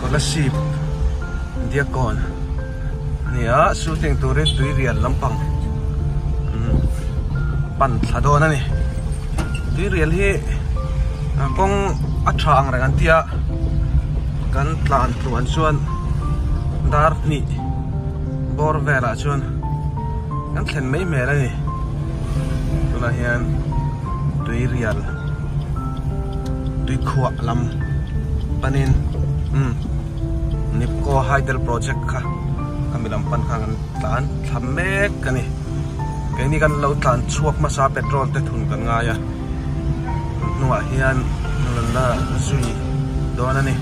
Scholarship Diakon nia shooting turin tui rian lampang pan thla dawn a ni tui rian hi kawng a tha ang reng an tia kan tlan tluan chuan dar hnih bawr velah chuan kan thlen mai hmel a ni tunah hian tui rian. tuikhuah lam panin umm nipco hydel project kha ka milam pan khan kan tlan thla mek ka ni keini kan lo tlan chhuak hmasa petrol te thun kan ngai a tun hnungah hian nunna zui dawn a ni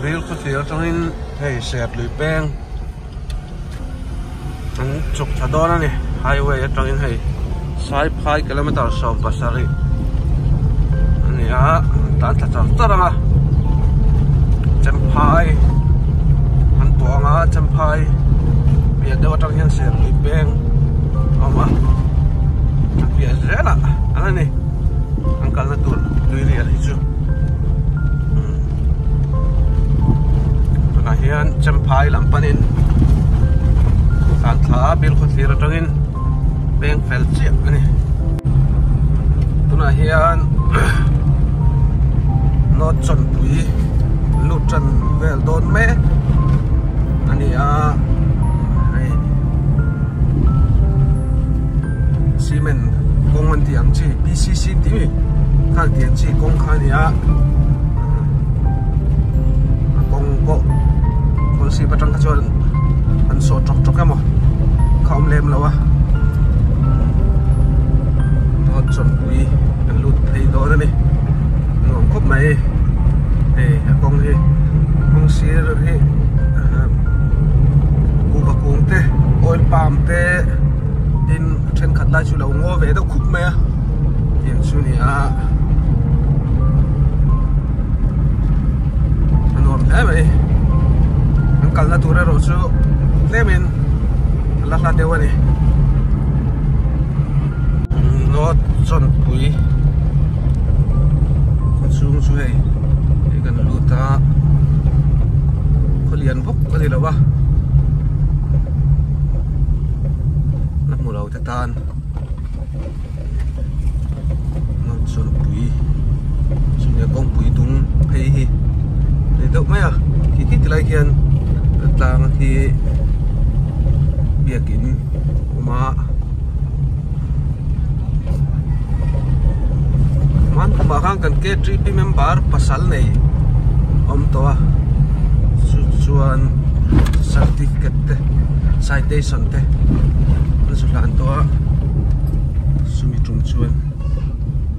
rilru thlir atangin hei serthlui peng. an chhuk tha dawn a ni highway atangin hei saiphai kilometre sawm pasarih a ni a tan tha char char ang a chemphai an tawh ang a chemphai piah deuh atang hian sertui peng a awm a a piah zelah a la ni an kalna tur tui rial hi chu umm. tunah hian champhai lam panin santhla bel khawthlir atangin peng fel chiah a ni tunah hian naw chawnpui lut tan vel dawn mek a ni a. cement kawng an tih ang chi pcc tih mi khak tih ang chi kawng kha a ni a a kawng pawh khawl sip atang kha chuan an sawh ṭawk ṭawk em aw kha awm lem lo a road chawlhpui kan lut phei dawn a ni nuam khawp mai hei a kawng hi kawng sir hi coca kung te oil palm te. tin a thenkhat lai chu a lo ngaw ve deuh khuk mai a tih chu a ni a a nuam hle mai an kalna tur erawh chu tlem in a la hlat deuh a ni Hnawt Chawnpui khawchhung chu hei kan lut a khawlian bul-- phawk a ni loh a la hmu lo te tan Hmangchawlhpui chunge kawngpui dum phei hi a ni deuh mai a khi khi tilai khian tlang hi biakin a awm a. Hman tumah khan kan KTP member pasal nei awm tawh a, chu chuan certificate te citation te an zutlan tawh a chumi tum chuan.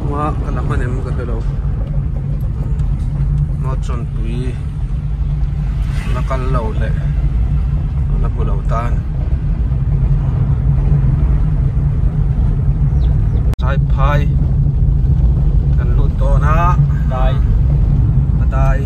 Khua ka la hman em ka hre lo Hma Chawnpui la kal lo leh la bu lo tan Tlai phai kan lut dawn a Tlai a dai.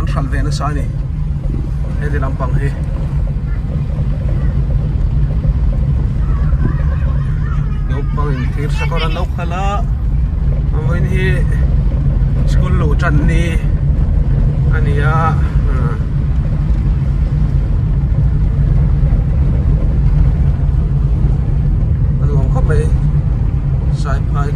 an hral ve nasa a ni heti lampang hi naupang in thir sakawr an lo khalh a a vawiin hi school luh tan ni a ni a ah a nuam khawp mai saipai --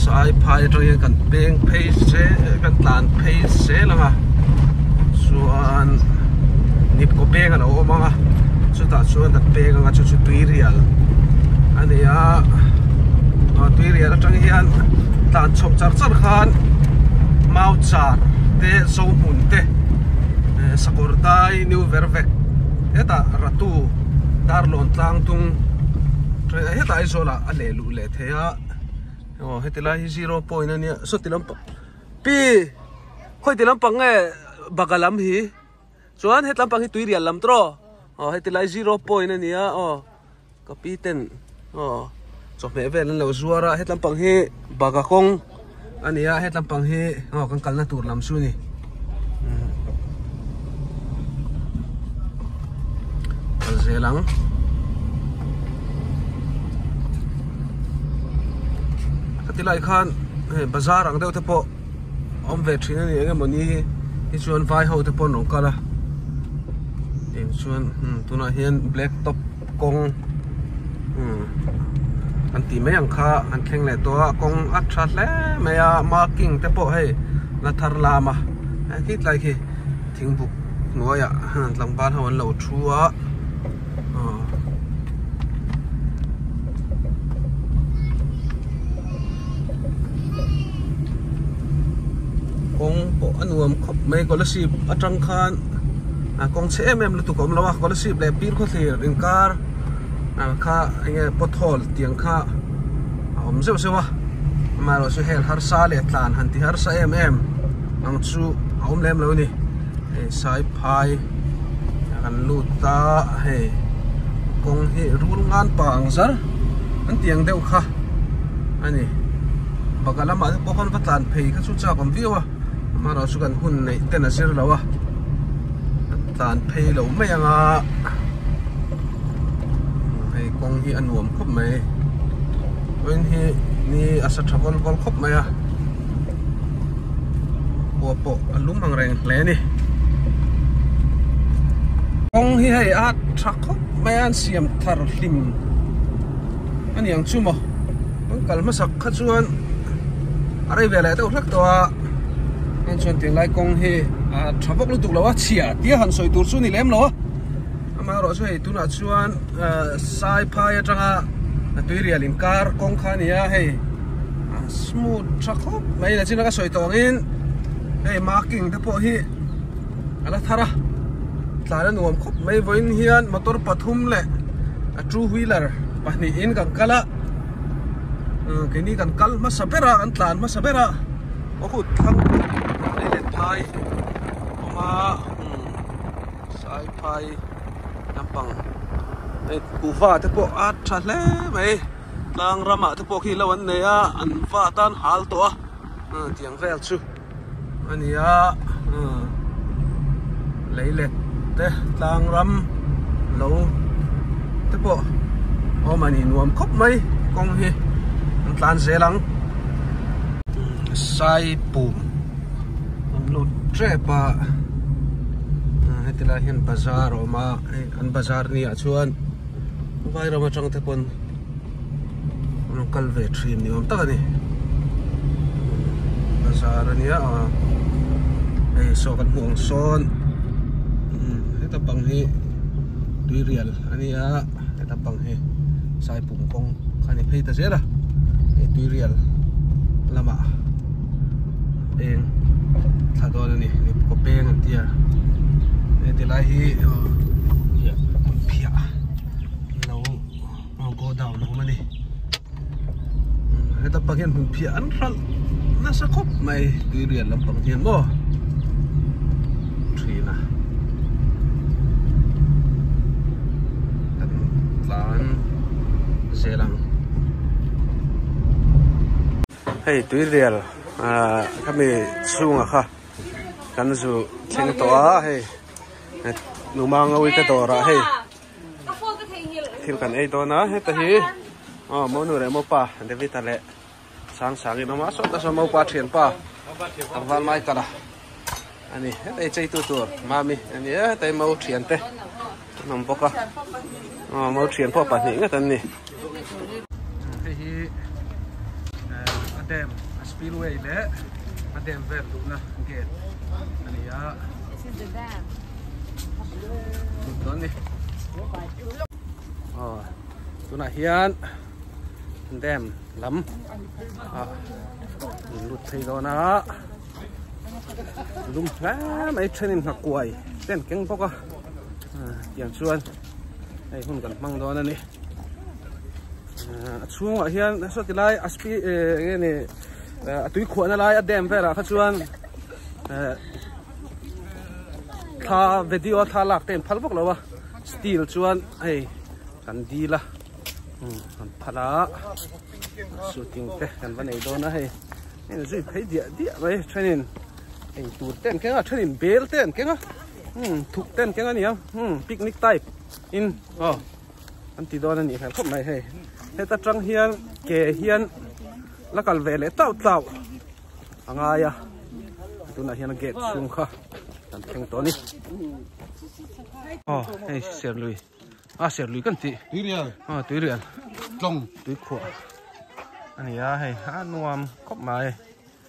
saiphai aṭang hian kan peng phei se kan tlan phei sel ang a chuan hnikkaw peng a lo awm ang a chutah chuan kan peng ang a chu chu tuirial a ni a aw tuirial aṭang hian tlan chho char char khan mau char te zohmun te sakawrdai niu ber vek hetah ratu-- Darlawn tlang tung train a hetah Aizawla a leh luh leh thei a aw heti lai hi zero point a nia saw ti lampang pi khawi ti lampang nge baga lam hi chuan hetlam pang hi tuirial lam tiraw aw heti lai zero point a nia aw ka pi ten. aw chawhmeh vel an lo zuar a hetlam pang hi baga kawng ania hetlam pang hi aw kan kalna tur lam chu ni kal zel ang tilai khan bazar ang deuh te pawh om ve thin ani enge mawni hi chuan vai ho te pawh an awm kal a em chuan tuna hian black top kawng umm kan tih mai ang kha an thleng leh tawh a kawng a tha hle mai a marking te pawh hei la thar lam a he khit lai khi thing buk hnuai ah han tlangval ho an lo thu a aw kawng pawh a nuam khawp mai khawlasi atang khan. Kawng chhe em em lutuk a awm lo a, scholarship leh pin khawthlir inkar kha enge pothole tiang kha a awm zeuh zeuh a, amaherawh chu hel harsa leh tlan han ti harsa em em ang chu a awm lem lo a ni. Hei saiphai kan lut a, hei kawng hi rul ngan pa ang zar an ti ang deuh kha a ni, baka lamah te pawh khawn va tlan phei kha chu chak awm viau a. Mahra chu kan hun neih ten a zir lo a, kan tlan phei lo mai ang a, hei kawng hi a nuam khawp mai, train hi ni a sa tha vawl vawl khawp mai a, khua pawh a lum ang reng hle a ni. Kawng hi hei a tha khawp mai a, an siam thar hlim a ni ang chu maw. Kan kal hmasak kha chuan a rei ve leh deuh hlek tawh a. Heng chuan Tinglai kawng hi tha bawk lutuk lo a, chhia tia han sawi tur chu ni lem lo a. Amaherawh chu hei tunah chuan sai phai atanga tuirial inkar kawng kha a ni a, hei smooth tha khawp mai ila chin a ka sawi tawh angin hei marking te pawh hi a la thar a. Tlan a nuam khawp mai vawiin hian motor pathum leh two wheeler pahnihin kan kal a. keini kan kal hmasa ber a kan tlan hmasa ber a ka kut thlang lei let phai awm a sai phai lampang hei kuhva te pawh a tha hle mai tlang ramah te pawh khi lo an nei a an va tan hal tawh a tiang vel chu. a ni a lei let te tlang ram lo te pawh awm a ni nuam khawp mai kawng hi an tlan zel ang sai pum awm lut tep a heti lai hian bazar a awm a an bazar ni ah chuan vai ram atang te pawn-- An rawn kal ve thin ni awm tak a ni bazar a nia aw hei saw kan hmuh ang sawn heta bang hi tuirial a ni a heta bang hi saipum kawng kha ni phei ta zel a hei tuirial lamah peng thla dawn a ni mipuka peng an tia heti lai hi phiah an lo. Aw go down awm a ni heta pang hian hmun phiah an hralh nasa khawp mai tui rian lam pang hian maw thin a kan tlan zel ang hei tui rial a kami chunga kha kan zu thleng tawh a hei numa ngawi te dawrah hei thil kan ei dawn a heta hi aw mo nu leh mo pa David a leh sang sang in awm a sawta sawn mo pa thian pa Tangval mai kala ani heta hi cheitu tur mami ani heta hi mo thian te an awm bawk a aw mo thian pawh pahnih ngat an ni Hei hi a dam a spillway leh a dam vel duhna gate a ni a. Tum dawn ni. Aw, tunah hian dam lam a lut thei dawn a. Lum hle mai thenin hna kuai ten keng bawk a. Tiang chuan hei hun kan hmang dawn a ni. a chhungah hian saw ti lai a spi e nge ni a tui khuahna lai a dam velah kha chuan tha video tha lak ten phal bawk lo a steel chuan hei kan deal a kan phal a shooting te kan va nei dawn a hei hei zui phei diah diah mai thenin hei tur ten kenga thenin bel ten kenga thuk ten kenga nia picnic type in aw an ti dawn a nih hmel khawp mai hei heta tang hian ke hian la kal ve leh tauh tauh a ngai a tunah hian gate chhung kha kan thleng tawh a ni oh hei serlui a ah, serlui kan tih tuirial a ah, tuirial tlawng tuikhuah a nia hei a nuam khawp mai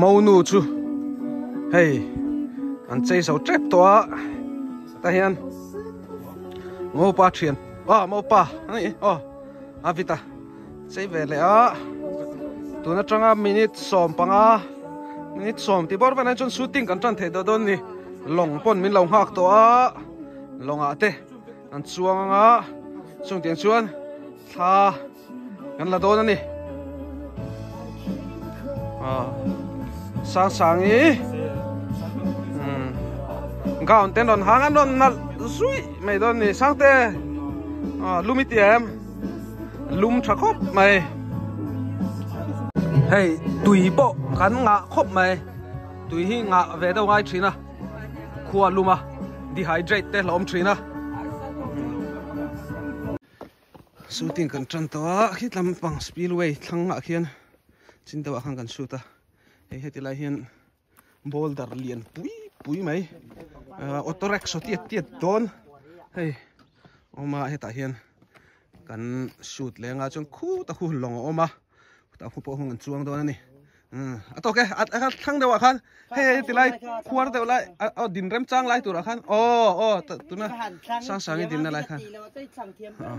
Monu chu hei an chei so tep tawh a ta hian mopa thian a mopa a ni aw a vita. Chei ve leh a, tun atanga minute sawm panga minute sawm tih bawr velain chuan shooting kan tan thei ta dawn ni. Lawng pawn min lo nghak tawh a, lawngah te an chuang ang a, chungte ah chuan thla kan la dawn a ni. Aw sang sang i, umm gown te an rawn hang a, an rawn nalh zui mai dawn a ni. Sangte aw lu mite em? lum tha khawp mai hei tui pawh kan ngah khawp mai tui hi ngah ve deuh ngai thin a khua lum a dehydrate te hlawm thin a shooting kan tan tawh a khi tlam pang spillway thlangah khian chin deuhah khan kan shoot a hei heti lai hian boulder lian pui pui mai ahh auto rickshaw tiat tiat dawn hei awm a hetah hian kan shoot leh anga chuan khut a hun lawng a awm a khutah khu pawh a hun chuang dawn a ni umm a tawk e a a thlang deuhah khan hei hei tilai khuar deuh lai aw din remchang lai turah khan aw aw tuna hrang hrang in dinna lai khan aw.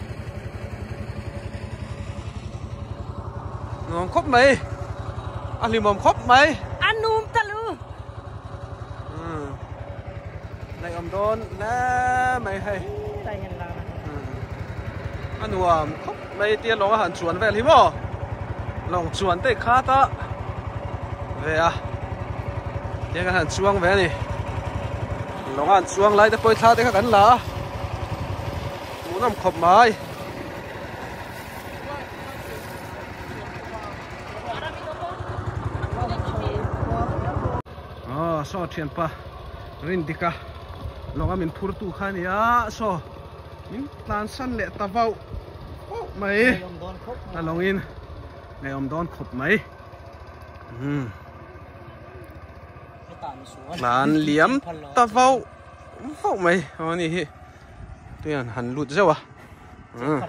nuam khawp mai a hlimawm khawp mai a num ta lu hmm. nei om dawn la mai hei a nuam khawp mai tia lawng a han chuan vel hi maw lawng chuan te kha ta ve a tia kan han chuang ve ni lawng an chuang lai te pawh thla te kha kan la a Hmuhnawm khawp mai. Aw saw thianpa rindika lawngah min phur tu kha nia saw min tlan san leh ta vauh vauh mai a lawngin ngeiawm dawn khawp mai tlan liam ta vauh vauh mai aw ni hi tui an han lut zeuh a ah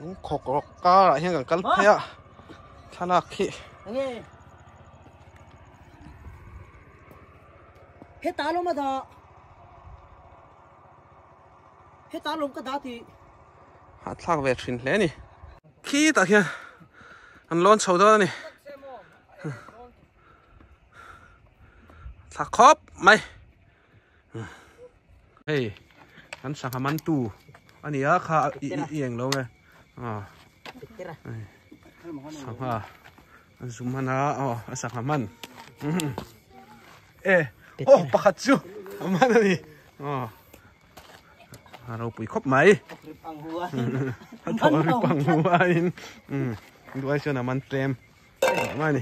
eng khawk rawk karah hian kan kal phei a thlalak khi heta lawm a dah heta lawm ka dah ti a thlak ve thin hle ni khi tah hian an lawn chho dawn a ni tha khawp mai hei kan sangha man tu ania kha i i eng lo nge a sangha zum mana a a sangha man e oh pakhat chu man ani a a ropui khawp mai a tho ri pang hnu aiin duai chuan a man tlem mai ni.